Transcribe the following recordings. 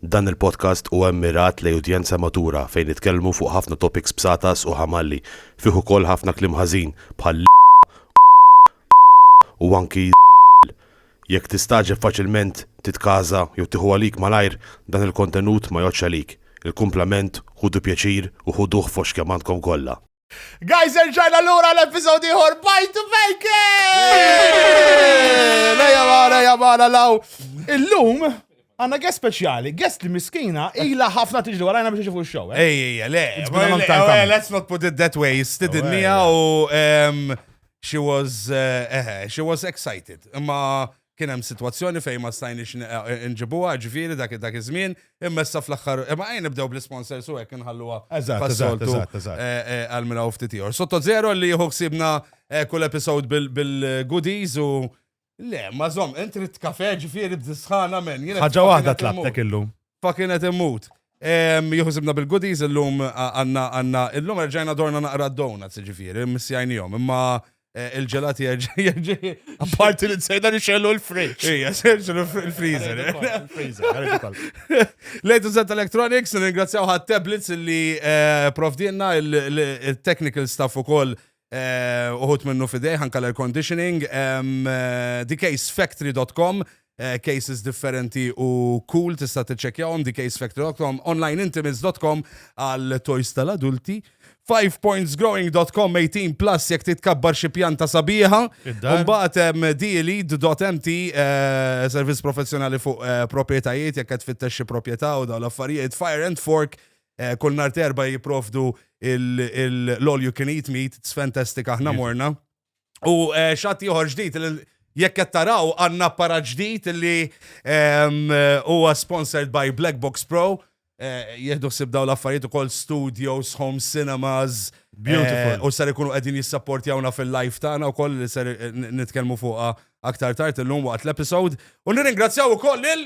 Dan il-podcast huwa mmirat lejn udjenza matura fejn nitkellmu fuq ħafna topics bsatas u ħamalli, fih ukoll ħafna kliem ħażin bħal l, u anki z, jekk tistagħġeb faċilment titkaża jew tieħu għalik malajr dan il-kontenut ma jgħoddx għalik, il-kumplament ħudu pjaċir u ħuduh fost kemm għandkom kollha. Guys, erġajna l-ura l-episodi ħor bajt u fejke! Leja mara, leja mara, law. Illum, għanna għes speċjali, għes li miskina, ila ħafna tiġi għarajna biex iġifu x-xow. Eh? Ej, ej, le. Eh, let's not put it that way. Stidinija u she was, uh, she was excited. Ma kien hemm sitwazzjoni fejn ma stajniex nġibuha, ġifieri dak dak iż-żmien, imma issa fl-aħħar imma ejn nibdew bl-isponsors u hekk inħalluha pas-soltu għal minn hawn ftit ieħor. Sotto Zero li jieħu ħsiebna kull episode bil-goodies u Le, ma żomm, int ridt kafè ġifieri bdisħana men. Ħaġa waħda tlabtek illum. Pa kien qed immut. Juħsibna bil-goodies illum għanna għanna illum erġajna dorna naqra d-donuts ġifiri, missjajnijom, imma eh, il-ġelati erġajna. Apparti li t-sejda li xellu l-fridge. Ija, serġu l-freezer. Lejtu Zet Electronics, ringrazzjaw ħat tablets li eh, provdinna il-technical staff u koll Uħud minnu f'idejh anke l-air conditioning. TheCaseFactory.com cases differenti u cool tista' tiċċekkjahom TheCaseFactory.com, OnlineIntimates.com għal toys tal-adulti. 5pointsgrowing.com 18 plus jekk titkabbar xi pjanta sabiħa. Mbagħad hemm delead.mt eh, servizz professjonali fuq eh, proprjetajiet jekk qed fittex xi proprjetà u dawn l-affarijiet. Fire and Fork Kull nhar terba jipprovdu l-all you can eat meat, it's fantastic aħna morna. U xatt ieħor ġdid Jekk qed taraw għandna apparat ġdid li ehm, huwa sponsored by Black Box Pro. Eh, jieħdu ħsib daw l-affarijiet ukoll studios, home cinemas. Beautiful. Eh, u ser ikunu qegħdin jissapportjawna fil-live tagħna wkoll li ser eh, nitkellmu fuqha aktar tard illum waqt l-episode. U nirringrazzjaw ukoll lil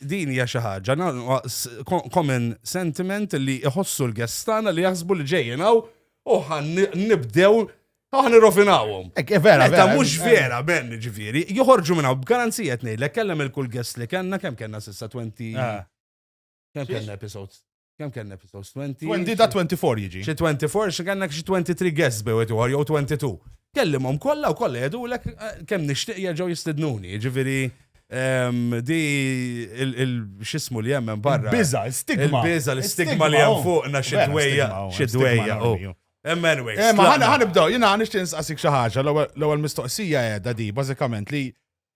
Din hija xi ħaġa, common sentiment li jħossu l-guests tagħna li jaħsbu li ġejjin hawn u ħan nibdew Aħna nirrofinawhom. Ek, eh, vera, vera. mhux eh, vera, eh. ben, ġifieri, joħorġu minn hawn b'garanzija tnejlek kellem il-kull guest li kellna kemm kellna s'issa 20. Ah. Kemm kellna episodes? Kem kellna episodes? 20? 20 da 24 jiġi. Xi 24, xi kellna xi 23 guests bew qed jew 22. Kellimhom kollha u kollha jgħidulek eh, kemm nixtieq jerġgħu jistidnuni. Jiġifieri ehm, di x'ismu li hemm barra. Biża, stigma. Biża l-istigma li hemm fuqna xi dwejja, xi dwejja. Anyway. Eh, ma ħanibdew, jiena nixtieq nsaqsik xi ħaġa, l-ewwel mistoqsija qiegħda di bażikament li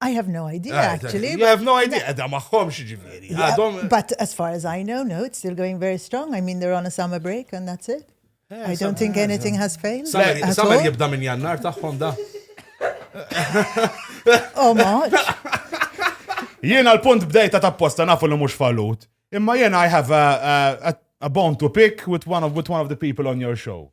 I have no idea, ah, actually. You have no idea, edha maħħom xieġiviri. But as far as I know, no, it's still going very strong. I mean, they're on a summer break and that's it. Eh, I don't think anything has failed. Summer jibda minn jannar taħħom da. Oh, much. Jiena l-punt bdejta ta' posta nafu li mux fallut. Imma jiena I have a, a, a bone to pick with one of, with one of the people on your show.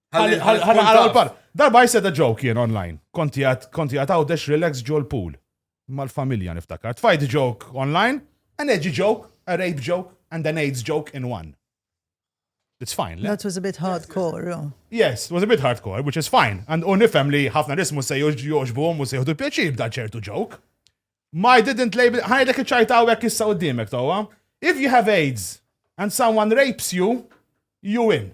Għal par, darba jiseda ġew kien online. Konti għat għawdex relax ġol pool. Mal-familja niftakar. Tfajt ġok online, an edgy joke, a rape joke, and an AIDS joke in one. It's fine. That was a bit hardcore. Yes, it was a bit hardcore, which is fine. And u nifem li ħafna nismu se joġbu u se jħudu pjaċir b'da ċertu joke. Ma I didn't label, ħajdek iċajta u għek issa u d-dimek tawa. If you have AIDS and someone rapes you, you win.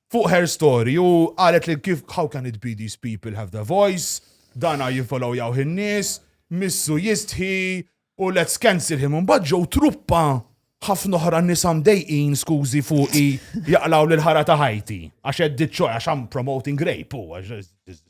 fuq her story u qalet li kif how can it be these people have the voice, dana jinfollowjaw in-nies, missu jistħi u let's cancel him. Mbagħad ġew truppa ħafna oħra nisa mdejqin skużi fuqi jaqlaw lil ħara ta' ħajti għax qed diċċoj għax I'm promoting rape u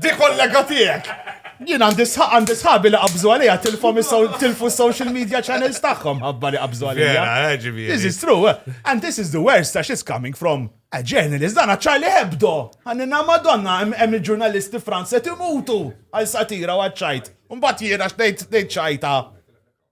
Di kollega tiegħek! Jien għandi sħaq għandi sħabi li qabżu għalija tilfhom tilfu social media channels tagħhom ħabba li qabżu għalija. Eh, this is true. Eh. And this is the worst għax it's coming from a journalist dan Charlie Hebdo. Għannina madonna hemm il-ġurnalisti Franza timutu għal satira u għadċajt. Mbagħad jiena x'tgħid ċajta.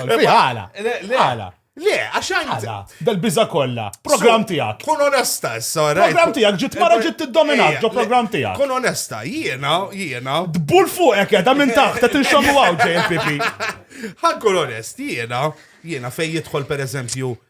Għala. Għala. Le, għaxan. Għala. Dal-biza kolla. Program tijak. Kun onesta, s-sara. Program tijak, ġit mara ġit t-dominat, ġo program tijak. Kun onesta, jiena, jiena. Dbul fuqek, jada minn taħt, ta' tinxomu għaw, JPP. Għan kun onest, jiena, jiena fej jidħol per eżempju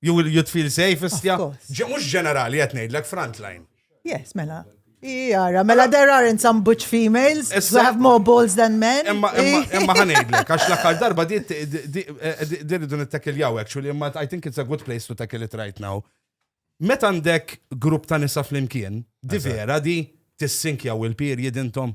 You will you'd feel safe istja. Mhux ġenerali qed ngħidlek frontline. Yes, mela. Jara, mela there aren't some butch females who have more balls than men. Imma ħanidlek, għax l-aħħar darba di rridu nittakiljaw, actually, imma I think it's a good place to tackle it right now. Meta għandek grupp ta' nisa flimkien, di vera di tissinkjaw il-period intom.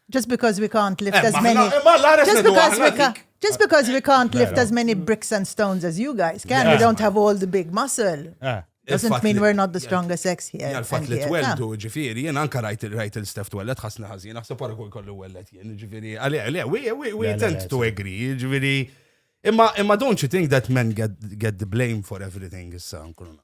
Just because we can't lift eh, as many. Just because we can't. Just because we can't lift as many bricks and stones as you guys can, we don't have all the big muscle. Eh. Doesn't mean we're not the strongest sex here. Jgħal fat li tweldu, ġifiri, jien anka rajt il-rajt il-stef twellet ħasna ħazin, naħseb għara kull kollu wellet jien, ġifiri, għale, għale, we, we, we tend to agree, ġifiri. Imma, imma don't you think that men get, get the blame for everything issa, nkununa?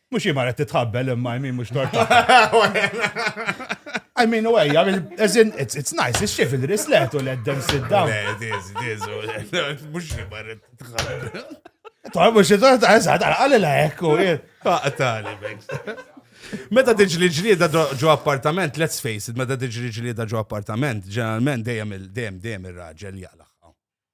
Mux jimar għed titħabbel imma jmin mux torta. I mean, u għajja, as in, it's, it's nice, it's xif il-rislet u l-eddem sidda. It is, it is, mux jimar għed titħabbel. Tħar mux torta, eżad, għalli la ekku. Għatali, Meta tiġri ġlieda ġo appartament, let's face it, meta tiġri ġlieda ġo appartament, ġeneralment dejjem dejjem dejjem ir-raġel jaqla.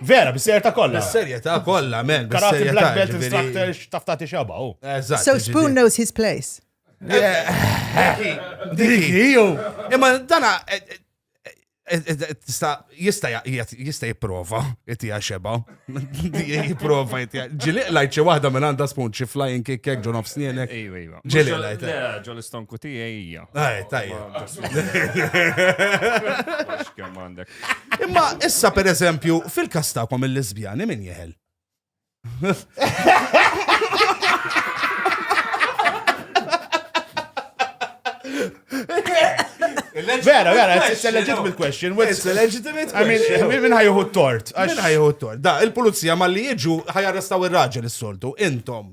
Vera, bis-serjetà kollha. Bis-serjetà kollha, men. Karati black belt instructor x'taftati xaba u. So Spoon knows his place. Imma dana eh, eh, eh, jista jiprofa jtija xeba. Jiprofa jtija. Ġiliq lajt xi waħda minn għandha spoon xi flying kick kek ġon of snienek. Ġiliq lajt. Ġol istonku tija hija. Aj, tajja. Kemm għandek. Imma issa per eżempju, fil-kas tagħkom il-lesbjani min jeħel? Vera, vera, it's a legitimate question. It's a legitimate question. I mean, minn ħajħu tort. Minn ħajħu tort. Da, il-pulizija ma li jiġu ħajarrestaw il-raġel il-soltu, intom.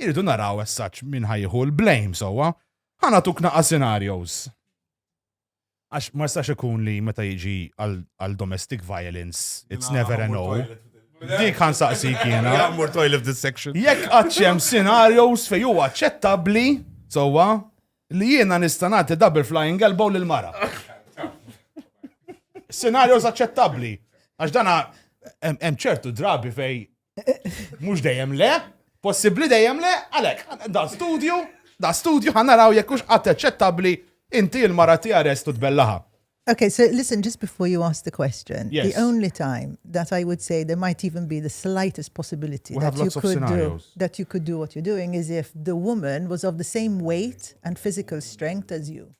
Irridu naraw as such min ħa jieħu l-blame sewwa. Ħa nagħtuk naqas scenarios. Għax ma jistax ikun li meta jiġi għal domestic violence, it's never a no. Dik għan saqsi kiena. Għamur toilet this section. Jekk għadċem scenarios fej huwa ċettabli, sowa, li jiena nistanati double flying elbow lil mara. Scenarios aċċettabli. Għax dana hemm ċertu drabi fej Mhux dejjem le, possibbli dejjem le, għalhekk da studju, da studju ħanaraw jekk hux qatt eċċettabbli inti l-mara tiegħek restu tbellaha. Okay, so listen, just before you ask the question, yes. the only time that I would say there might even be the slightest possibility that you, could do, that you could do what you're doing is if the woman was of the same weight and physical strength as you.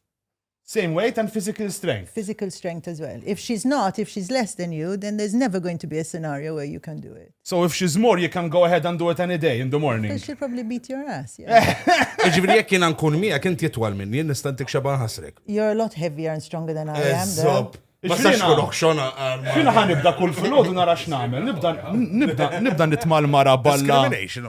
Same weight and physical strength. Physical strength as well. If she's not, if she's less than you, then there's never going to be a scenario where you can do it. So if she's more, you can go ahead and do it any day in the morning. Because she'll probably beat your ass. Iġviri jek jina nkun mija, kien titwal minni, nistantik xaban ħasrek. You're a lot heavier and stronger than I am. Eżob. Ma sax kun oħxona għal. Xina ħan nibda kull fil-ħodu nara x'namel, nibda nibda nibda nitmal mara balla. Discrimination.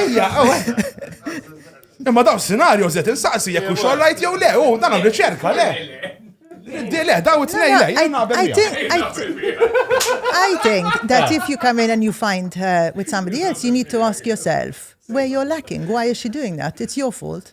Ejja, Imma daw scenario zet insaqsi jekk u xorrajt jew le, u dan riċerka le. Di le, daw it-tnej le, I think that if you come in and you find her with somebody else, you need to ask yourself where you're lacking, why is she doing that? It's your fault.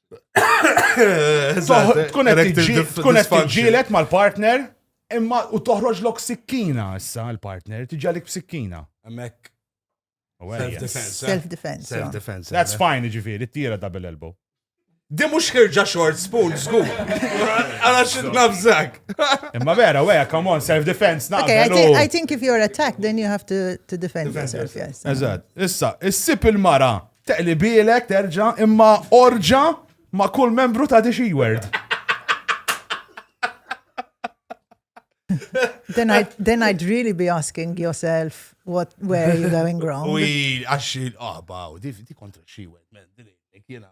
Tkun qed tiġġielet mal-partner imma u toħroġ lok sikkina issa l-partner, tiġġalik b'sikkina. Hemmhekk. Self-defense. Eh? Self-defense. Self-defense. That's eh? fine, ġifieri, tira double elbow. Di mux ħirġa short spoon, zgu. Għala xit nabżak. Imma vera, weja, come on, self-defense, na. Okay, I think, I think if you're attacked, then you have to, to defend yourself, yes. Eżad. Issa, issip il-mara Teqlibielek terġa' imma orġa' ma' kull membru ta' Dixi Word. then I'd then I'd really be asking yourself what where are you going wrong. Ui, għax il-qaba, di kontra xi wed, men, din kiena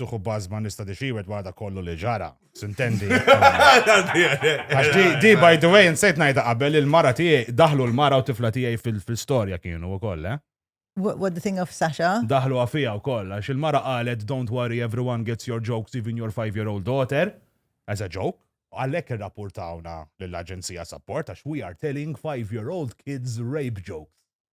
tuħu bazma nista di xiwet wara da kollu li ġara. Sintendi. Għax di, di, by the way, nsejt najda qabel il-mara tiegħi, daħlu l-mara u tifla tiegħi fil-storja kienu u koll, eh? What the thing of Sasha? Daħlu għafija u koll, għax il-mara qalet, don't worry, everyone gets your jokes, even your five-year-old daughter, as a joke. Għallek il-rapportawna l-Aġenzija Support, għax we are telling five-year-old kids rape jokes.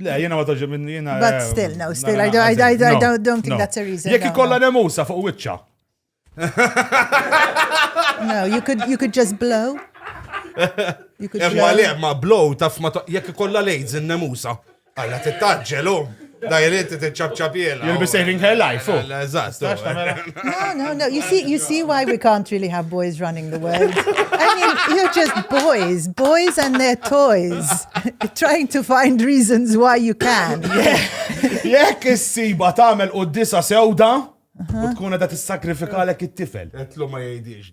Le, jena ma toġi minn jena. But eh, still, no, still, I don't, I, I, I don't think that's a reason. Jek ikolla nemusa fuq wicċa. No, you could, you could just blow. You could Emma le, ma blow taf ma jek ikolla lejz in-nemusa. Alla tittaġġelu. Da jrid tiċċabċabjela. You'll be saving her life. Oh. Eżatt. No, no, no. You see, you see why we can't really have boys running the world. I mean, you're just boys, boys and their toys, trying to find reasons why you can. Jekk is-siba tagħmel u disa sewda, u tkun qed tissakrifikalek it-tifel. Etlu ma jgħidix.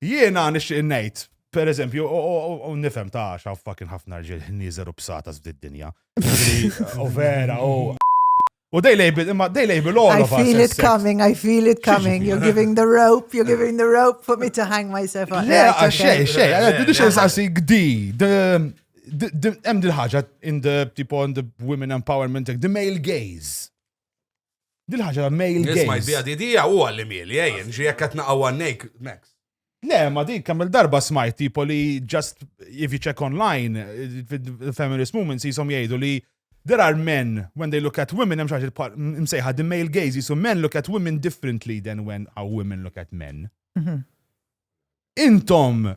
Jiena nixtieq ngħid, per eżempju, u nifhem ta' xaw fucking ħafna rġiel ħnieżer u bsata f'did dinja. U vera, u. U they label, imma they label all of us. I feel it coming, I feel it coming. You're giving the rope, you're giving the rope for me to hang myself up. Le, xej, xej, biex nsaqsi gdi, hemm dil-ħaġa in the, tipo, in the women empowerment, the male gaze. Dil-ħaġa male gaze. Nisma jbija didija u għalli mieli, ejjen, ġi jekk qed naqgħu għannek, Max. Le, ma dik kamil darba smajt tipo li just if you check online, feminist movements jisom jgħidu li there are men when they look at women, hemm xaġi msejħa the male gaze, jisom men look at women differently than when our women look at men. Mhm. Intom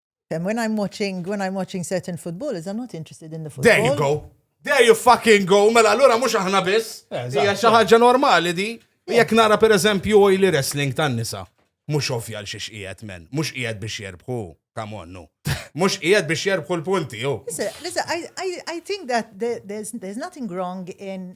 When I'm watching, when I'm watching certain football, is I'm not interested in the football. There you go. There you fucking go. Mela allura mhux aħna biss. Eh, Hija xi ħaġa normali di. Jekk nara per eżempju li wrestling tan-nisa. Mhux ovvja l xiex qiegħed men. Mhux qiegħed biex jerbħu. Come on, no. Mhux qiegħed biex jerbħu l-punti, jo. Listen, I, I, I think that there's, there's nothing wrong in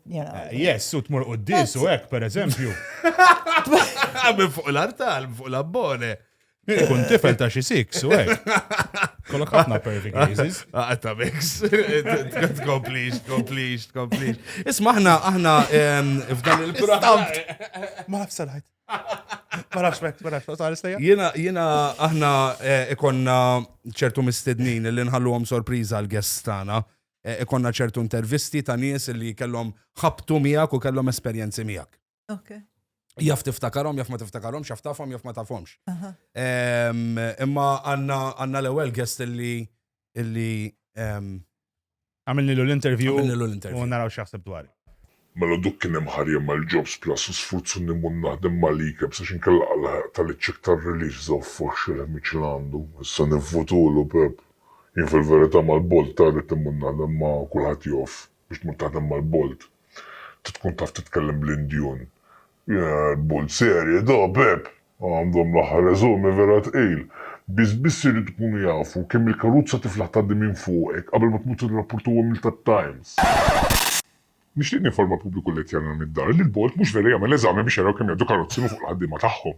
Yes, u tmur u d-dis u hekk, per eżempju. Għamil fuq l-artal, fuq l-abbone. Ikun tifel ta' xi six u hekk. Kollok ħafna perfect cases. Għatta mix. Tkomplix, tkomplix, tkomplix. Isma aħna, aħna f'dan il-programm. Ma nafx salħajt. Ma nafx mek, ma nafx, għal istejja. Jena, jena, aħna eh, ikonna ċertu mistednin li nħalluhom sorpriża għal-gestana. ikollna ċertu intervisti ta' nies li kellhom ħabtu miegħek u kellhom esperjenzi miegħek. Okay. Jaf tiftakarhom, jaf ma tiftakarhomx, jaf tafhom, jaf ma tafhomx. Imma għandna l-ewwel guest li illi għamilni l-interview u naraw x'jaħseb dwar. Mela duk kien hemm ħar jagħmel jobs plus u sfurzu nimur naħdem mal-IKEBS għax inkella għalhaq ta' li ċ-check tar-release żaw foxx il-ħmieġ li għandu. Issa nivvutulu, Pepp. Jien fil-verità mal-Bolt ta' rrid immur naħdem ma' kulħadd jaf. Biex tmur taħdem mal-Bolt. Trid tkun taf titkellem bl-Indjun. Il-Bolt serje da, Pepp! Għandhom l-aħħar eżami vera tqil. Biss biss iridu jkunu jafu kemm il-karuzza tiflaħ tgħaddi minn fuqek qabel ma tmur tirrapportuhom lil tat-Times. Nixtieq ninforma l-pubbliku Lettianan mid-dar li l-Bord mhux vera jagħmel eżami biex jaraw kemm jgħaddu karozzi minn fuq il-ħaddiema tagħhom.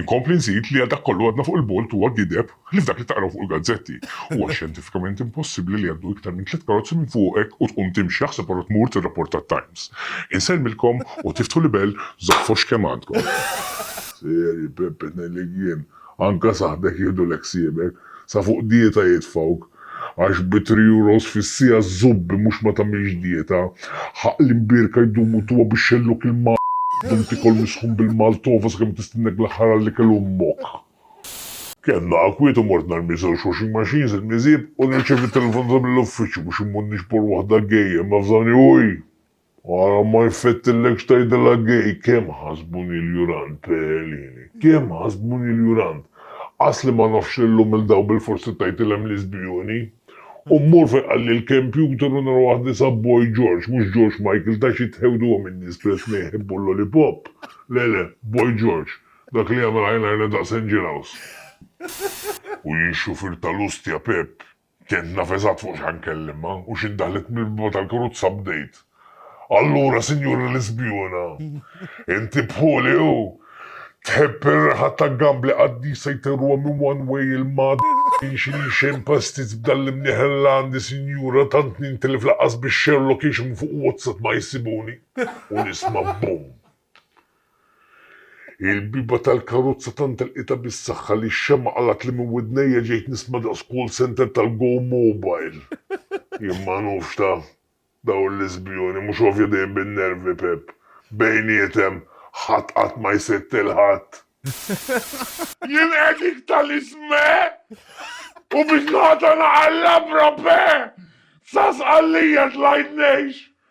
Inkompli nżid li għal dak kollu għadna fuq il-Bord huwa gideb ħlief dak li taqraw fuq il-gazzetti. Huwa xjentifikament impossibbli li jgħaddu iktar minn tliet karozzi minn fuqek u tqum timxi, aħseb ara tmur tirrapport għat-Times. Insellmilkom u tiftħu l-ibel żoffox kemm għandkom. Seri, Pepe, ngħidlek jien, Anka saħbek jieħdulek ħsiebek, sa fuq dieta jitfgħuk, għax bi three euros fis-siegħa żubbi mhux ma tagħmilx dieta, ħa l-imbierka jdumu tuha biex xelluk il dum tikol misħun bil-maltova sakemm tistennek l-aħħar għall-ikel ommok. Kellna akwiet u mort narmi żewġ washing machines il-miżieb u nirċevi telefonata mill-uffiċċju biex immur nixbor waħda gejja imma f'dan il Ara ma jfettillekx tgħidilha gay, kemm ħasbuni l-jurant, Peelini, kemm ħasbuni l-jurant! Qas li ma nafx li llum il-daw bilfors ittajtilhem liżbjuni! U mmur fejn qalli l-kempjuter u nara waħda isha Boy George, mhux George Michael ta' xi tħewduhom in-nies li qed jħebbu l-lollipop! Le, le, Boy George, dak li jagħmel highlighter daqs Angelhouse! U jien xufier tal-ustja, Pepp! Kient naf eżatt fuq x'ħa nkellimha u xi ndaħlet mill-biba tal-karuzza bdejt, Allura, Sinjura Lisbjuna, inti bħuli u tħobb ir-riħa ta' gambli qaddisa jtirruha minn one way il-mad in xini xejn pastiz b'dan l-imnieħ Irlandi, Sinjura, tant nintilef lanqas bix-xerlock għax minn fuq WhatsApp ma jsibuni u nisma' boom! Il-bieba tal-karozza tant għelqitha bis-saħħa li x-xemgħa qalgħet li minn widnejja ġejt nisma' daqs call center tal-Go Mobile. Jien ma nufx ta' dawn l-iżbjuni, mhux għovja dejjem bin-nervi Pepp. Bejnietem, ħadd qatt ma jsett il-ħadd. Jien għedik tal-isme! U biex nagħtana għal-labra pe! Sas għalija tlajt ngħix!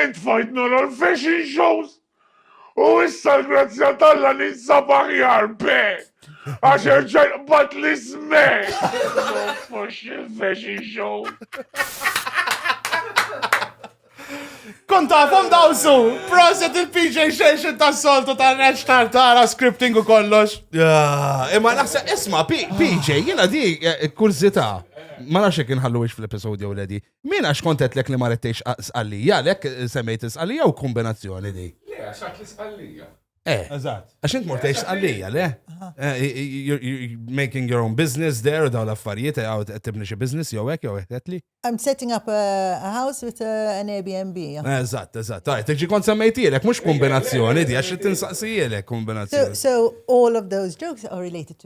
Int tfajt nara l-fashion shows u issa l-grazzja talla ninsab aħjar be. Għax erġaj qbat li sme. Fux il-fashion show. Kontafom dawsu, proset il-PJ xejxin ta' soltu ta' reċ tartara, scripting u kollox. Imma naħsa, isma, PJ, jena di, eh, kurzita, ma nafx jek nħallu fl-episodju u ledi, Min għax kont għedtlek li ma rettejx sqallija, għalhekk semmejt sqallija u kombinazzjoni di. Le, għax għad li sqallija. Eh, eżatt. Għax int mortejx sqallija, le? Eh, you're making your own business there u daw l-affarijiet, eh, għaw tibni xi business jew hekk jew hekk li. I'm setting up a house with uh, an Airbnb. Eżatt, eżatt. Tajt, tiġi kont semmejtielek, mhux kombinazzjoni di, għax tinsaqsijielek kombinazzjoni. So all of those jokes are related to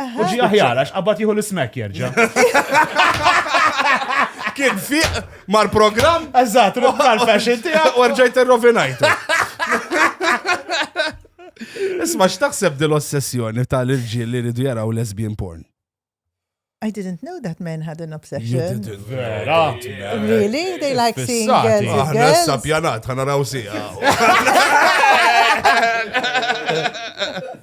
U ġi aħjar, għax qabad jieħu l-smek jerġa. Kien fiq mar program Eżat, ruktar fashion tijak. u rġajt irrovinajtu. Isma, x'taħseb dil-ossessjoni tal-irġiel li ridu jaraw lesbian porn? I didn't know that men had an obsession. Vera. Really? They like seeing Fissati. girls with Aħna girls? issa pjanat, ħana raw sija.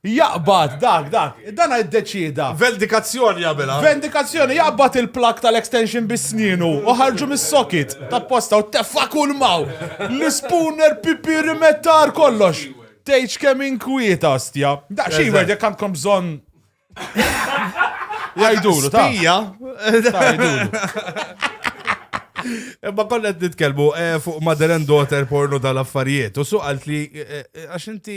Jaqbad, dak, dak, dana iddeċieda. Vendikazzjoni jagħmilha. Vendikazzjoni, jaqbad il-plug tal-extension bi snienu u ħarġu mis-socket tapposta u teffa' kull maw. L-ispooner, pipi, rimettar, kollox. Tgħidx kemm inkwieta, ostja. Daqs Hayward jekk għandkom bżonn. Jgħidulu, ta'. Spija. Imma konna qed nitkellmu eh, fuq Mother and Daughter porno tal-affarijiet u suqalt li eh, eh, għax inti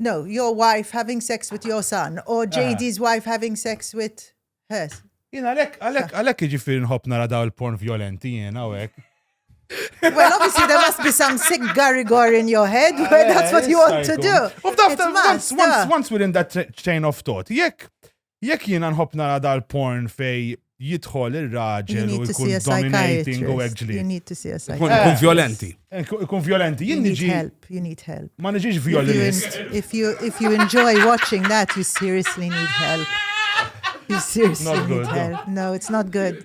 No, your wife having sex with your son or ah. JD's wife having sex with hers. Jena għalek, għalek, għalek iġifiri nħob nara daw il-porn violenti jena għawek. Well, obviously there must be some sick garigor in your head where that's what you want to do. Once, once, once we're in that chain of thought, jekk Jekk jiena nħobb nara dal-porn fej jidħol ir-raġel u jkun dominating u hekk ġli. Ikun violenti. Ikun violenti. Jien niġi. Help, you need help. Ma niġix violinist. If you, if you enjoy watching that, you seriously need help. You seriously need help. No, it's not good.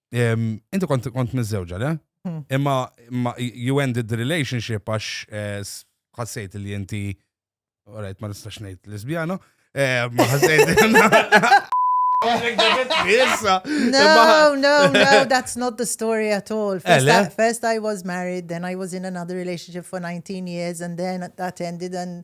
Inti kont kont miżżewġa, le? Hmm. Imma you ended the relationship għax eh, ħassejt li inti Alright, ma nistax ngħid lesbjana. Eh, ma ħassejt. no, no, no, that's not the story at all. First I, first I was married, then I was in another relationship for 19 years, and then that ended, and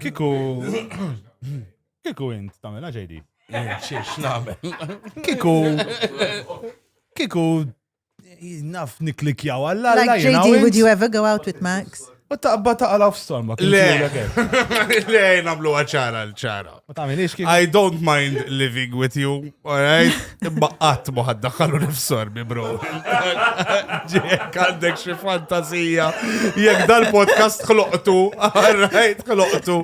Kiku. Kiku int tamela ġejdi. Xiex namel. Kiku. Kiku. Naf niklikjaw għalla. Like JD, would you ever go out with Max? U taqba taqla f'storma. Le, le, namlu għacħara l-ċara. Ma tagħmilix kif. I don't mind living with you, alright? Imma qatt ma ħadda ħallu nifsorbi, bro. Ġek għandek xi fantasija. Jekk dal-podcast ħloqtu, alright, ħloqtu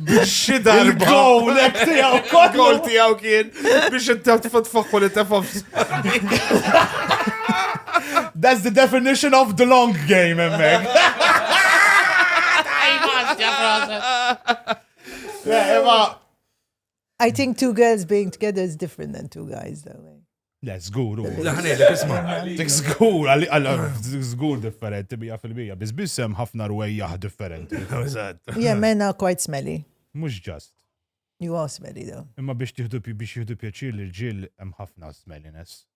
biex xi darba. Gowlek tiegħu kollu. Gowl tiegħu kien biex inti tfaħħu li tefa' f'sarbi. That's the definition of the long game, emmek. I think two girls being together is different than two guys, though. Eh? Le, zgur, u. Laħnejlek, isma. Dik zgur, dik zgur differenti, bija fil-bija. Biz bissem ħafna rwejjaħ differenti. Yeah, men are quite smelly. Mux ġast. You are smelly, though. Imma biex tiħdu biex jiħdu pjaċir li l-ġil hemm ħafna smelliness.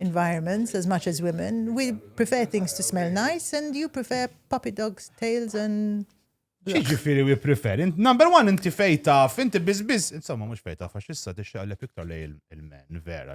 environments as much as women. We prefer things to smell nice and you prefer puppy dogs, tails and Xieġifiri we prefer? Number one, inti fej taf, inti bizbiz, insomma, mux fej taf, għax issa t xaqlep iktar lej il-men, vera.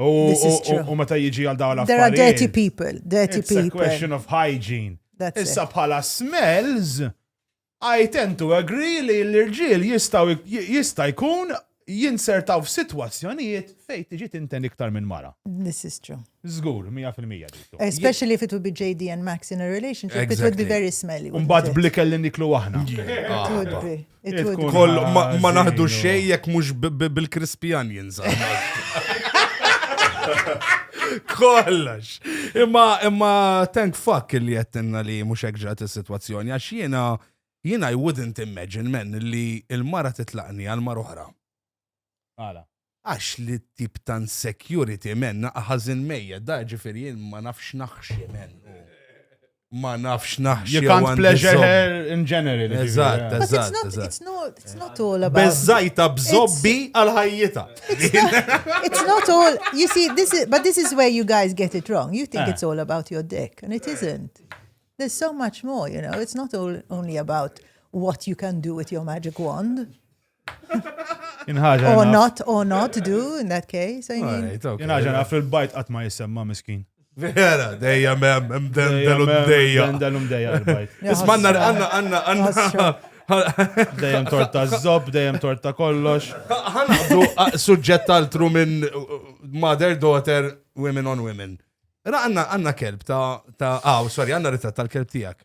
U meta jiġi għal dawn l-affarijiet. There are dirty people, dirty people. It's a question of hygiene. Issa bħala smells, I tend to agree li l-irġiel jistaw jista' jkun jinsertaw f'sitwazzjonijiet fejn tiġi tinten iktar minn mara. This is true. Zgur, 100% diktu. Especially if it would be JD and Max in a relationship, exactly. it would be very smelly. Mbagħad blikel li niklu aħna. Koll ma naħdu xej jekk mhux bil-crispy onions. Kollox. Imma imma thank fuck li jettinna li mhux hekk ġrat is-sitwazzjoni għax jiena jiena I wouldn't imagine men li l-mara titlaqni għal mar oħra. Għala? Għax li t-tip ta' insecurity men naqa' ħażin mejjet, da ġifieri jien ma nafx naħxi men. Ma nafx naħxi. You can't pleasure her in general. Eżatt, eżatt, eżatt. It's not all about. Bezzajta bżobbi għal ħajjita. It's not all, you see, this is, but this is where you guys get it wrong. You think eh. it's all about your dick, and it isn't. There's so much more, you know. It's not all only about what you can do with your magic wand. Inħaġa. Or not, or not do in that case. Inħaġa naf il-bajt qatt ma jisemma miskin. Vera, dejja mem, mdendelu dejja. Mdendelu dejja il-bajt. Ismanna għanna għanna għanna. Dejjem torta zob, dejjem torta kollox. Għandu suġġett altru minn uh, mother, daughter, women on women. Ra għanna għanna kelb ta' ta' għaw, sorry, għanna ritratt tal-kelb tijak.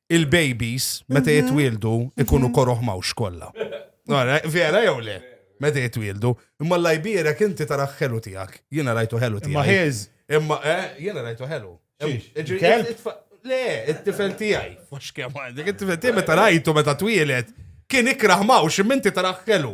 il-babies meta jitwieldu ikunu koroħ mawx kollha. Għara, vera jew le? Meta jitwieldu. Imma l-lajbira kinti tara ħelu tiegħek. Jiena rajtu ħelu tiegħek. Imma ħież. Imma, eh, jiena rajtu ħelu. Le, it-tifel tiegħi. Mhux kemm għandek, it-tifel tiegħi meta rajtu meta twielet kien ikrah mawx imminti tara ħelu.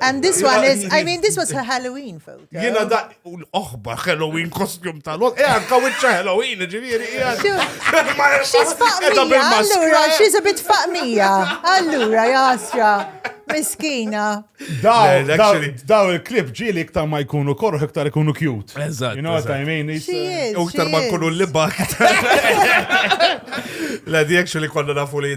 And this one is, I mean, this was her Halloween photo. Jena da, l-oħba Halloween kostjum tal-ot, e għanka wicċa Halloween, ġiviri, She's faqmija, allura, she's a bit faqmija, allura, jasra. Miskina. Daw il-klip ġili iktar ma jkunu korru, iktar jkunu cute. Eżatt. You know what I mean? U iktar ma jkunu l-libak. La di actually konna nafu li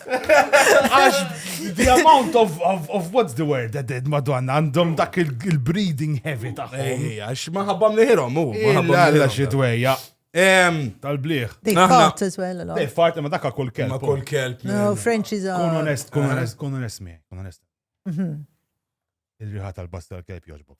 Għax, the amount of, of, of what's the word that did madonna għandhom dak il-breeding heavy taħħom. Għax maħabba mliħirom, u. Maħabba xie dwejja. Tal-bliħ. They fart as well, They fart, ma dakka kull kelb. Ma kull kelb. No, French is a... Kun onest, kun eh. onest, kun onest mi, kun onest. Mhm. Il-riħa tal-basta tal-kelb joġbok.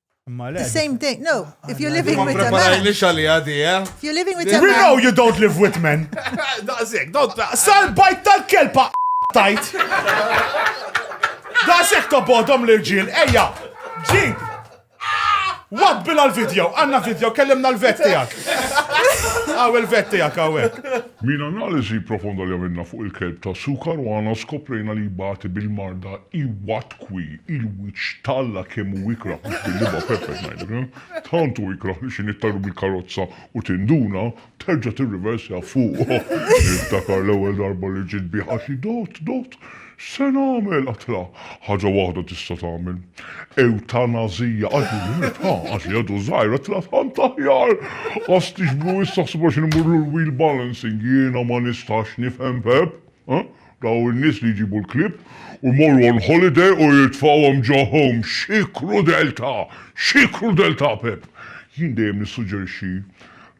Imma le. The same day. No, if you're living Ma with a man. preparajni xali għadi, eh? If you're living with a We man. know you don't live with men. Daqsek, don't ta' Sal-bajt tal-kelpa tajt. Daqsek tobodom l-irġiel, ejja, ġin. Wabbila l-video, għanna video, kellimna l-vet tijak. Għaw il-vet tijak, għawek. Min analiżi profonda li għamilna fuq il-kelb ta' sukar u għana skoprejna li jbati bil-marda iwat Tkwi, il-wiċċ t'Alla kemm hu ikrah mhux bil-libgħa Pepe ngħidlek, tant hu ikrah li xi nittajru mill-karozza u tinduna, terġa' tirriversja fuq. Niftakar l-ewwel darba li ġiet bih għadt li dott, dott, x'se nagħmel? Għadtilha, ħaġa waħda tista' tagħmel. Ewtanazija! Għadt li rimet, ha, għadt li għadu żgħir, għadtilha tant aħjar! Ħasstix blu issa ħsibha x'inhi mmurlu l-wheel balancing, jiena ma nistax nifhem Pepe. Dawn in-nies li jġibu l-klieb u jmorru on holiday u jitfgħuhom ġo home. Xi krudeltà! Xi krudeltà, Pepp! Jien dejjem nissuġġerixxi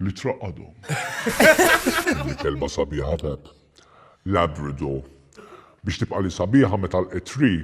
li traqqadhom. Din il-kelma sabiħa, Pepp. Labrador. Biex tibqali sabiħa meta l-qed tree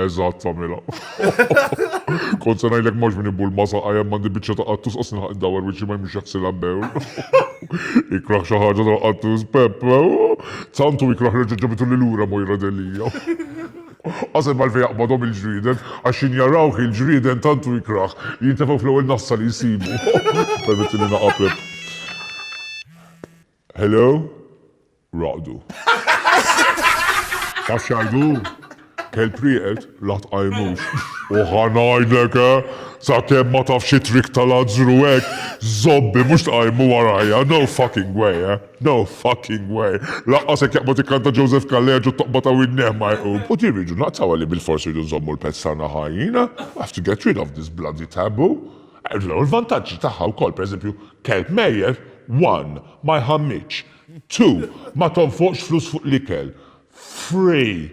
Eżatt tagħmilha. Kont se ngħidlek mhux min ibul ma saqa' hemm għandi biċċa ta' qattus qas nilħaq dawar wiċċi ma jmux jaħsilha bewl. Ikrah xi ħaġa ta' qattus Pepp. Santu ikrah reġa' ġabitu lil lura Mojra Delija. Qasem għalfejn jaqbadhom il-ġrieden, għax xi njarawh il-ġrieden tantu ikrah li jintefgħu fl-ewwel nassa li jsibu. Permetti li naqaplek. Hello? Raqdu. Taf xajdu? Kelb rieqed, la tqajmux. U ħanajdlek, eh? Sa kem ma taf xi trik tal-azzru hekk, zobbi mhux tqajmu warajja, no fucking way, eh? No fucking way. Laqqas hekk jaqbad ikkanta Joseph Kalleġ u toqba ta' winneh ma jqum. U din rridu naqtaw li bil-fors rridu nżommu l-pezz tagħna ħajjin, eh? I have to get rid of this bloody taboo. Għandha l-vantaġġi tagħha wkoll, pereżempju, kelb mejjet, one, ma jħammitx, two, ma tonfoqx flus fuq l-ikel, three,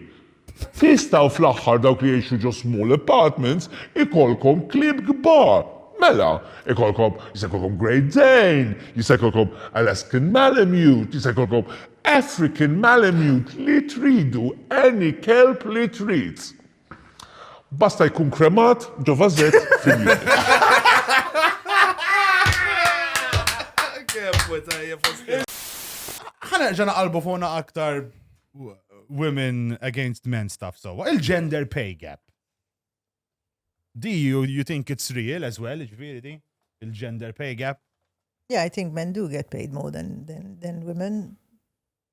tistgħu fl-aħħar dawk li jgħixu ġo small apartments ikollkom klieb kbar, mela, ikollkom, jista' jkollkom Great Dane, jista' jkollkom Alaskan Malamute, jista' jkollkom African Malamute, li tridu, any kelb li trid. Basta jkun kremat ġo vażett fil-jiem. Ħa nerġa' naqalbu fuqna aktar women against men stuff sewwa. Il-gender pay gap. Do you, you think it's real as well, ġviri di? Il-gender pay gap? Yeah, I think men do get paid more than, than, than women.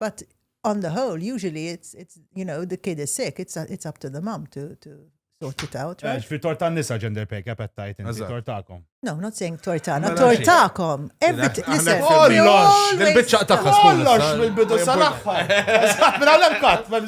But on the whole, usually it's, it's you know, the kid is sick, it's, it's up to the mom to, to sort it out, right? Fi torta nisa gender pay cap għattajt, fi tortakom. No, not saying tortana, tortakom. Everything, listen. Kollox! Il-bicċa ta' kollox mill-bidu sal-axħar. Mela l-emkat, ma'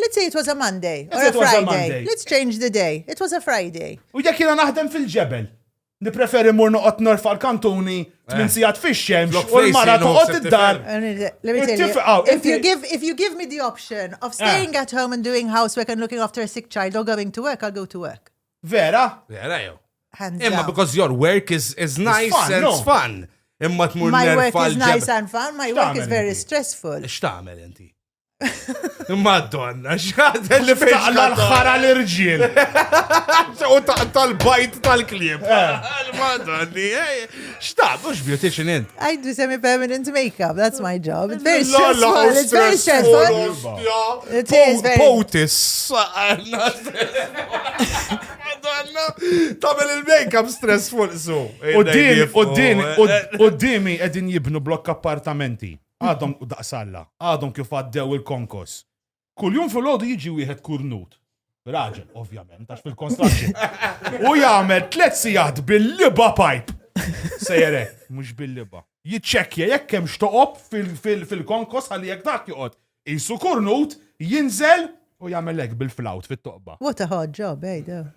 Let's say it was a Monday or a Friday. Let's change the day. It was a Friday. U jekk jiena naħdem fil-ġebel, nipreferi mur noqgħod norfa l-kantuni tmin eh. sigħat fix-xemx u l-mara toqgħod id-dar. If you give if you give me the option of eh. staying at home and doing housework and looking after a sick child or going to work, I'll go to work. Vera? Vera jew. Imma because your work is is nice and it's fun. Imma tmur My work is nice and fun, my work is very stressful. X'tagħmel inti? Madonna, xħadel li taqla l-ħara l-irġiel. U taqta l-bajt tal-klib. Eh. Madonni, eh, xtaq, mux beautician int. I do semi-permanent makeup, that's my job. It's very stressful, it's very stressful. It is very... Potis. Madonna, tamel il-makeup stressful, so. U dimi, u dimi, u dimi edin jibnu blokk appartamenti. Għadhom daqs Alla, għadhom kif għaddew il-konkos. Kuljum fil-ħodu jiġi wieħed kurnut. Raġel, ovvjament, għax fil-konstruction. U jagħmel tliet sigħat bil-liba pipe. Sejre, mhux bil-liba. Jiċċekkja jekk hemm xtoqob fil-konkos għalli jekk dak joqgħod. Isu kurnut, jinżel u jagħmel hekk bil-flawt fit-toqba. What a hard job, ejda. Eh,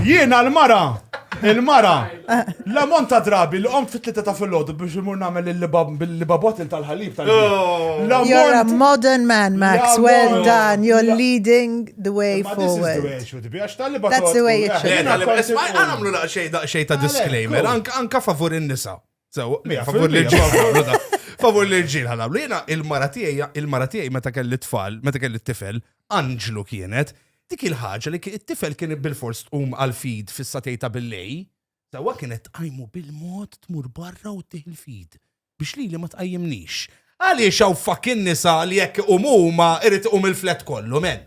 Jiena l-mara! Il-mara! L-ammont ta' drabi li qomt fit-tlieta ta' fil-ħodu biex imur nagħmel il-babotil tal-ħalib tal oh. You're a modern man, Max. Well done. You're leading the way forward. That's the way it should be. That's the way it should be. Għamlu daqxej ta' disclaimer, anka favur in-nisa. Sew, favur l-irġiel. Favur l-irġiel ħanamlu. Jiena il-mara tiegħi, il-mara tiegħi meta kelli tfal, meta kelli t-tifel, anġlu kienet, dik il-ħaġa li t-tifel kien bil-fors tqum għal-fid fis-satej ta' billej, sewa kienet tqajmu bil-mod tmur barra u tih il-fid biex li li ma tqajjimnix. Għaliex hawn fakin nisa li jekk umuma irrid um il-flet kollu, men.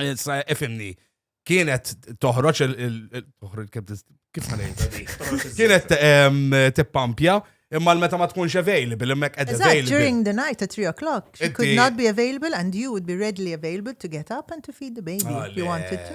Issa ifimni, kienet toħroġ kif Kienet tippampja imma meta ma tkunx available, imma qed available. During the night at 3 o'clock, she could not be available and you would be readily available to get up and to feed the baby if you wanted to.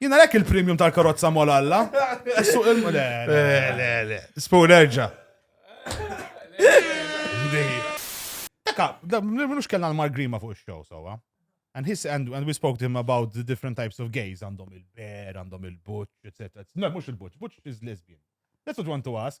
Jina lek il-premium tal-karozza mol alla. Suq il Le, le, le. Spoon erġa. Taka, minux kellna l-Mark Grima fuq il-show, sowa. And, his, and, and we spoke to him about the different types of gays, għandhom il-ber, għandhom il-butch, etc. No, mux il-butch, butch is lesbian. That's what you want to ask.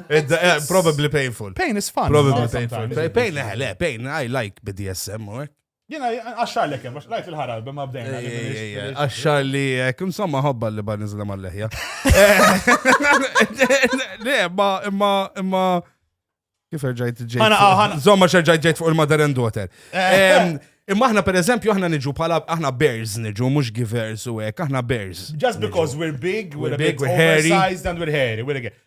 Eh, probably painful. Pain is fun. Probably painful. Pain, eh, le, pain, I like BDSM, u hekk. Jena, għaxxar li kem, lajt il-ħaral, bimma bdejna. Għaxxar li kem, insomma, hobba li ba nizla mal-leħja. Le, ma, imma, imma, kif rġajt ġejt. Għana, għana. Zomma xerġajt ġejt fuq il-mother and daughter. Eh. Imma aħna per eżempju aħna niġu pala aħna bears niġu mhux givers u hekk aħna bears. Just because we're big, we're, we're big, we're hairy. and we're hairy, we're again.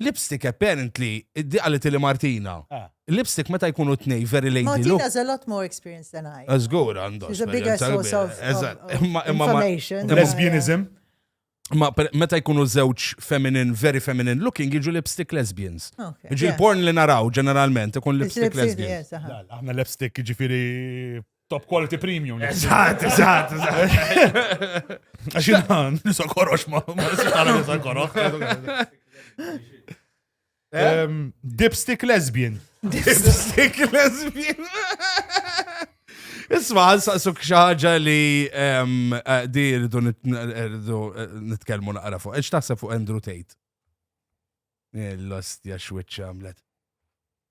Lipstick apparently, di għalet li Martina. Ah. Lipstick meta jkunu t-nej very lady look. Martina has a lot more experience than I. Azgur għandu. She's a bigger source of information. Lesbianism. Ma meta jkunu żewġ feminine, very feminine looking, jiġu lipstick lesbians. Jiġu l-porn li naraw ġeneralment, ikun lipstick lesbians. Aħna lipstick ġifiri Top quality premium. Eżatt, eżatt, eżatt. Għaxina, nisa korox ma, ma s-sitana nisa korox. Eh? Dipstick lesbian. Dipstick lesbian. Isma, saqsuk xaġa li eh, di rridu eh, nitkelmu naqra fuq. Eċ taħseb fuq Andrew Tate? L-ostja xwitċa għamlet.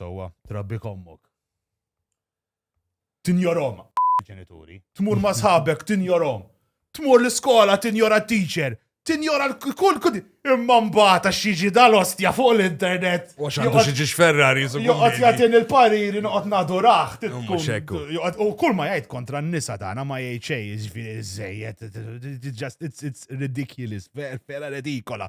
Sewwa. Trabbik ommok. Tinjorhom. Ġenituri. Tmur ma' sħabek, tinjorhom. Tmur l-iskola, tinjora t-teacher. Tinjora kull kull. Imma mbagħad għax jiġi dal-ostja fuq l-internet. U għax għandu xi ġiex Ferrari jisuk. Joqgħod jagħtin il-pariri noqgħod nadurah. U kull ma jgħid kontra n-nisa tagħna ma jgħid xejn, jiġifieri żejjed. It's ridiculous, vera redikola.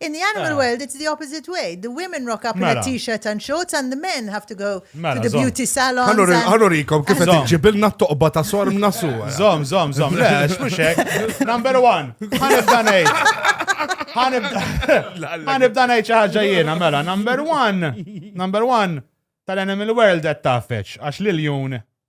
In the animal world, it's the opposite way. The women rock up in a t-shirt and shorts and the men have to go to the beauty salon. Għallurikom, kif għed ġibilna t-toqba ta' sorm nasu. Zom, zom, zom, le, xmuxek. Number one, ħanibda nejt. Ħanibda nejt xaħġa jena, mela, number one, number one, tal-animal world għed tafeċ, għax l-jun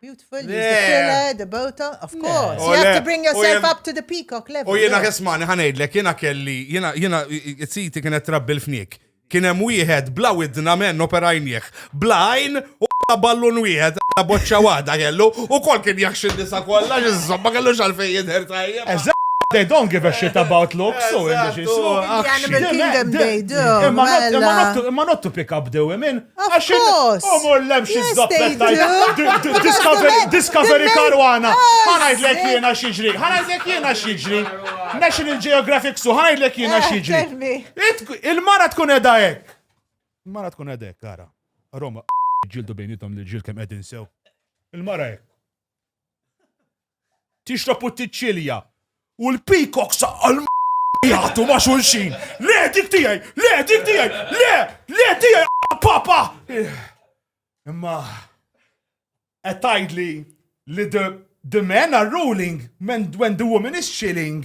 Beautiful, use the filler, the bota, of course. You have to bring yourself up to the peacock level. U jena kesmani ħanejdlek, jena kelli, jena, jena, it-siti kienet trabbi l-fnik. Kienem wieħed bla widna men operajnieħ, bla għajn u bla ballun wieħed, bla boċċa wada kellu, u kol kien jaxxi nisa kolla, ġizzom, ma kellu xalfej jidher tajja. They don't give a shit about looks, so in the Imma not to pick up the women. Għax omor lemx iż-zoppet tajt. Discovery karwana. Ħanajdlek jiena xieġri. Ħanajdlek jiena xieġri. National Geographic su, ħanajdlek jiena xieġri. Il-mara tkun edha hekk. Il-mara tkun edha hekk, ara. Roma, ġildu bejnietom li ġil kem edin sew. Il-mara hekk. Tixrob u tiċċilja. U l-peacock saqqa l jgħatu ma' xulxin. Le, dik tiegħi, le, dik tiegħi, le, le tiegħi papa. Imma qed tgħidli li the the men are ruling when the woman is chilling.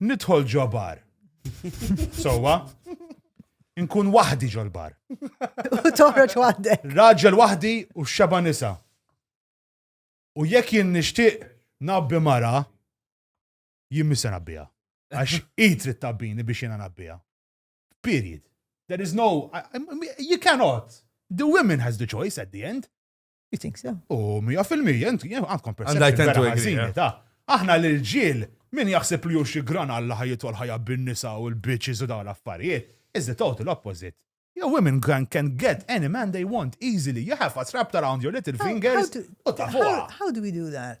Nidħol ġo bar. Sowa. Nkun waħdi ġol bar. U toħroġ waħdek. Raġel waħdi u xeba nisa. U jekk jien nixtieq nabbi mara, jien missa nabbija. Għax id trid tabbini biex jiena nabbija. Period. There is no, you cannot. The women has the choice at the end. You think so? U mija fil-mija, inti għandkom perception. Aħna l-ġil, min jaħseb li xi gran għalla ħajjitu għal-ħajja bin-nisa u l-bitches u dawn l-affarijiet, is the total opposite. Your women can, can get any man they want easily. You have a wrapped around your little fingers. How, how, how, how do we do that?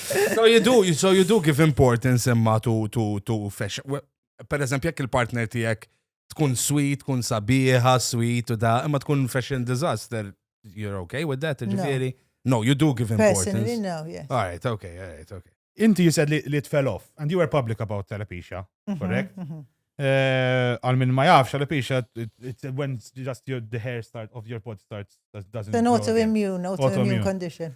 So you do, so you do give importance imma to, to, to fashion. Per eżempju, jekk il-partner tijek tkun sweet, tkun sabiħa, sweet u da, imma tkun fashion disaster, you're okay with that, ġifiri? No, you do give importance. Personally, no, yes. All right, okay, all right, okay. Inti you said li, li fell off, and you were public about telepisha, mhm, correct? Mm -hmm. Eh, għal minn ma jafx, għal pixa, when just your, the hair start of your body starts, doesn't. It's an autoimmune, autoimmune condition.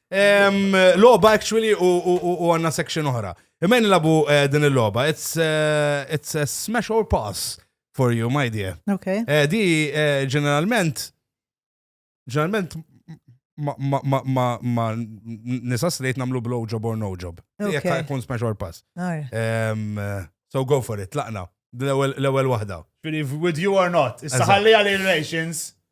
Loba actually u għanna section oħra. Imman labu eh, din il-loba, it's, eh, it's a smash or pass for you, my dear. Okay. Eh, di ġeneralment, ġeneralment ma nisa straight namlu blow job or no job. Jek kun smash or pass. So go for it, laqna. L-ewel wahda. With you or not. Issa ħalli għal relations.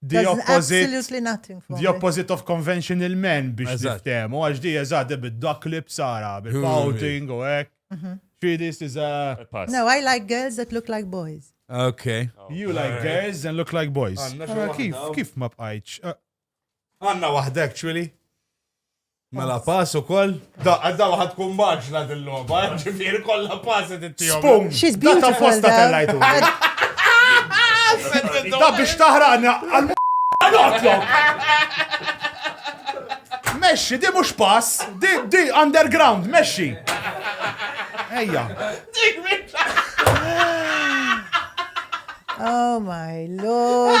The opposite of conventional men biex niftehmu, għax di eżatt di bid-duck lips ara, bil-pouting u hekk. Fidi this is a... No, I like girls that look like boys. Okay. You like girls and look like boys. Kif, kif ma bqajċ? Għanna wahda actually. Mela pass ukoll. Da, għadda waħad tkun maġla dil-logħba, eh, ġifieri kollha pass qed ittihom. Spum! She's beautiful. Da posta tellajtu. Da biex taħraqna għal notlok. Mexxi, di mhux pass, di di underground, mexxi. Ejja. Oh my lord.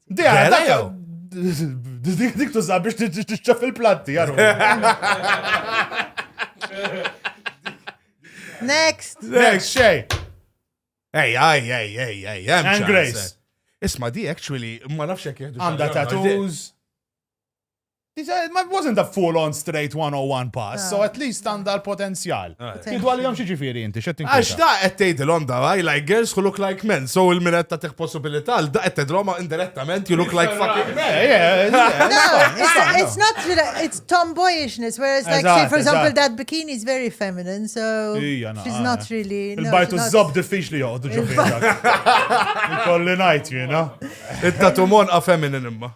Dik dik tuża biex tiċċef il-planti, għaru. Next. Next, xej. Ej, ej, ej, ej, ej, ej. And Grace. Isma di actually, ma nafx jek jihdu. Għanda tattoos. It wasn't a full on straight 101 pass, so at least għandha l-potenzjal. Tgħidu għalihom xi ġifieri inti, x'qed tinkwita? Għax da qed tgħidilhom da I like girls who look like men, so il-min qed tagħtih possibilità għal da qed tgħidilhom indirettament you look like fucking men. It's not it's tomboyishness whereas like say for example that bikini is very feminine so she's not really. Il-bajtu żob diffiċli joqgħdu ġo Kolli ngħid jiena. It-tatu monqa feminine imma.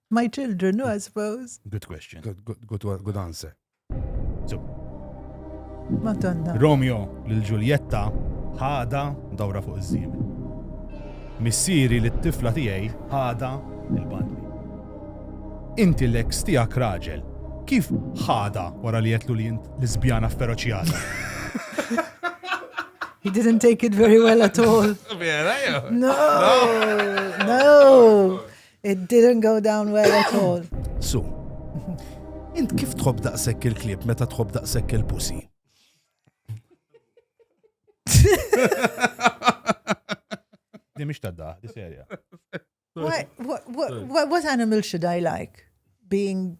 My children, no, I suppose. Good question. Good, good, good, one- good answer. So, Madonna. Romeo lil Ġuljetta ħada dawra fuq iż-żiem. Missieri li t-tifla tiegħi ħada il-bandli. Inti l-eks tiegħek raġel, kif ħada wara li jetlu li jint l-isbjana feroċjata? He didn't take it very well at all. Vera, jew? No, no. It didn't go down well at all. Su, int kif tħobb daqshekk il-klieb meta tħobb daqshekk il-pusi? Di mhix tadda, di serja. Why, what, what, what, what animal should I like? Being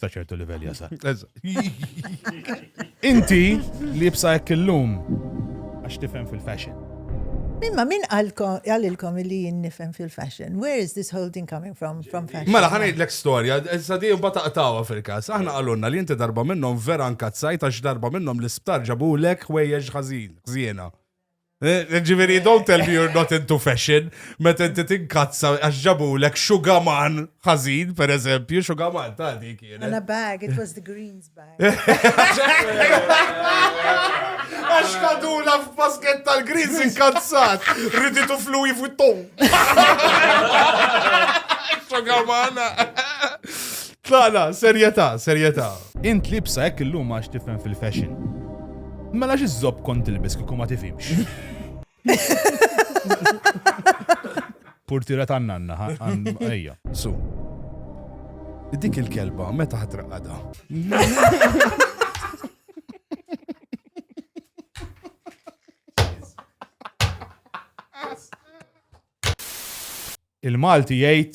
Sa ċertu livell jasa. Inti li jibsa jekk illum għax tifhem fil-fashion. Mimma, min għalilkom li jien nifhem fil-fashion? Where is this whole thing coming from? From fashion? Mela, ħana jidlek storja, issa di jibba taqtawa fil-kas. Aħna għalunna li jinti darba minnom vera nkazzajt għax darba minnom l-isptar ġabulek ħwejjeġ ħażin, ħżiena. Eh, ġiviri, don't tell me you're not into fashion, meta inti tinkazza għax ġabulek xugaman ħażin, per eżempju, xugaman ta' dik. And a bag, it was the greens bag. Għax kadula f'basket tal-greens inkazzat, riditu fluwi fuq tom. Xugamana. La, la, serjetà, serjetà. Int libsa hekk illum għax tifhem fil-fashion. Mela x'iżżobb kont tilbes kieku ma tifhimx. Purtira ta' nanna, ejja. Su. Dik il-kelba meta ħatraqqada. Il-Malti jgħid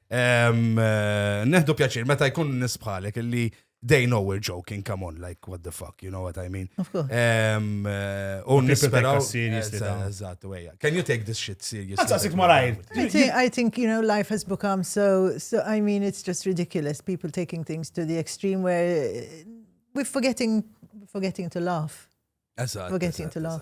Neħdu pjaċir, meta jkun nisbħalek li they know we're joking, come on, like, what the fuck, you know what I mean? Of course. Um, uh, un nisperaw. Eżattu, eja. Can you take this shit seriously? Għazza, sik marajr. I think, you know, life has become so, so, I mean, it's just ridiculous, people taking things to the extreme where uh, we're forgetting, forgetting to laugh. Eżattu. Forgetting to laugh.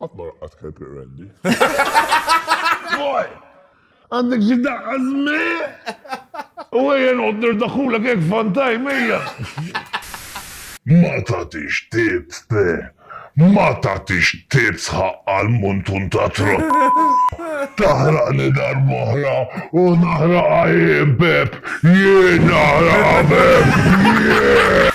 Qatt ma raqqat kelb irrendi. Boy! Għandek xi daqqa żmi? U ejja noqgħod nirdaħulek hekk fantaj mejja. Ma tagħtix tips te! Ma tagħtix tips ħaqqa l-muntun ta' trott! Taħraqni darb'oħra u naħraqha jien Pep! Jien naħraqha Pep! Jien!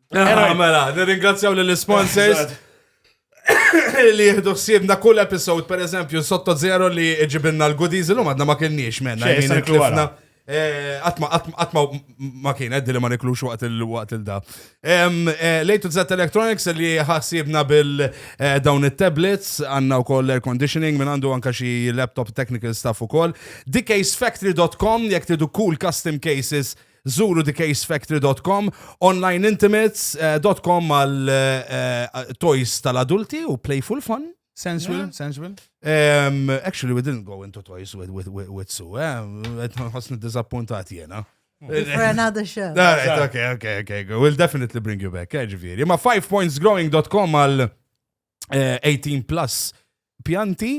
Era mela, nirringrazzjaw l-sponsors li jihdu xsibna kull episod, per eżempju, sotto zero li ġibinna l-goodies, l-lum għadna ma kienniex menna. Eh, atma, atma, atma ma kien għeddi li ma niklux waqt il-waqt il-da. Eh, Lejtu Z Electronics li ħassibna bil-dawn eh, il-tablets, għanna u koll air conditioning, minn għandu għanka xi laptop technical stuff u koll. Dcaysfactory.com, jek tidu cool custom cases, Zuru thecasefactory.com, onlineintimates.com għal eh, toys tal-adulti u playful fun. Sensual, sensual. Um, actually, we didn't go into toys with, with, with, with Sue, eh? Għasni dizappuntat jena. For another show. All right, okay, okay, okay. Go. We'll definitely bring you back, eh, ġifiri. Ma 5pointsgrowing.com għal eh, 18 plus pjanti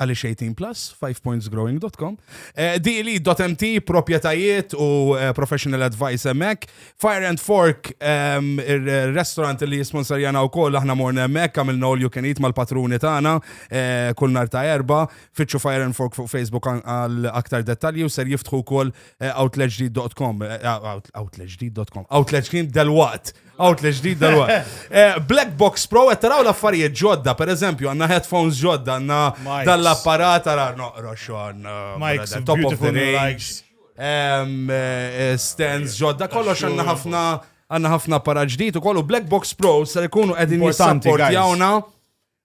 Għaliex 18 plus, 5pointsgrowing.com. Eh, DLE.mt, propietajiet u eh, professional advice emmek. Fire and Fork, ehm, il-restaurant li jisponsorjana u koll, aħna morna emmek, għamilna all you can eat mal-patruni tagħna eh, kull nar ta' erba. Fitxu Fire and Fork fuq Facebook għal aktar dettalji u ser jiftħu koll outletġdid.com. Outletġdid.com. Outletġdid del-waqt. Outlet ġdid dal eh, Black Box Pro qed taraw l-affarijiet ġodda, per eżempju, għandna headphones ġodda, għandna dall-apparat għara noqrox għandna Mike's top of the range. Eh, eh, stands ġodda, kollox għandna ħafna għandna ħafna apparat ġdid u kollu Black Box Pro ser ikunu qegħdin jissapport jawna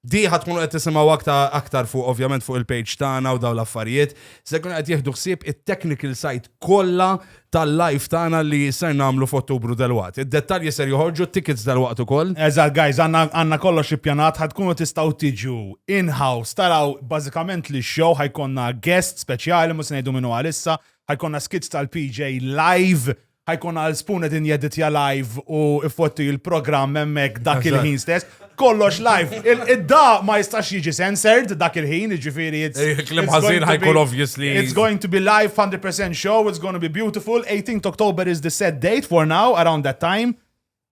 Di ħad tkunu qed tisimgħu aktar aktar fuq ovvjament fuq il-page tagħna u dawn l-affarijiet. Se jkunu qed jieħdu ħsieb it-technical side kollha tal-live tagħna li ser nagħmlu f'Ottubru delwaqt. Id-dettalji ser joħorġu, tickets delwaqt ukoll. Eżatt guys, għandna għandna kollox ippjanat, ħad tkunu tistgħu tiġu in-house taraw bażikament l-show, ħa jkollna guest speċjali, mhux se ngħidu min hu għalissa, ħa jkollna skits tal-PJ live ħajkun għal spoon qed injeditja live u ifotti il-programm hemmhekk dak il-ħin stess. Kollox live. Id-da ma jistax jiġi censored dak il-ħin, jiġifieri it's. Eh, Klim ħażin ħajkun obviously. It's going to be live 100% show, it's going to be beautiful. 18th October is the set date for now, around that time.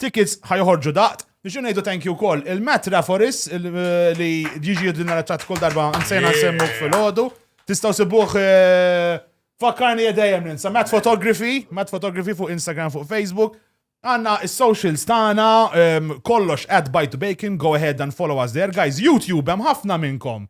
Tickets ħa joħorġu daqt. Nixu ngħidu thank you wkoll il-Matt Raforis li jiġi jidlina l-ċat kull darba nsejna nsemmu fil-ħodu. Tistgħu sibuh eh, fakkarni jedejjem ninsa. Matt Photography, Matt Photography fuq Instagram, fuq Facebook. Għanna il-socials tagħna ehm, kollox at bite bacon, go ahead and follow us there. Guys, YouTube hemm ħafna minnkom.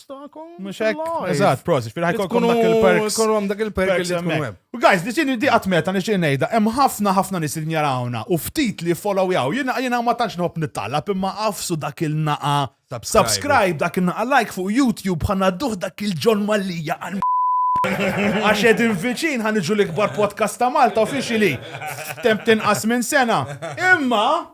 tagħkom. Mhux hekk. Eżatt, prosit, fil ħajkolkom dak il-perks. Kolkom dak il-perks li tkun hemm. Guys, li xini di għatmeta nixtieq ngħidha, hemm ħafna ħafna nies li jarawna u ftit li followjaw. Jiena jiena ma tantx nħobb nittalab imma qafsu dak il-naqa. Subscribe dak il-naqa like fuq YouTube ħanna duħ dak il-ġon mallija għal Għax edin viċin ħan iġu l-ikbar podcast ta' Malta uffiċili. Temp tinqas minn sena. Imma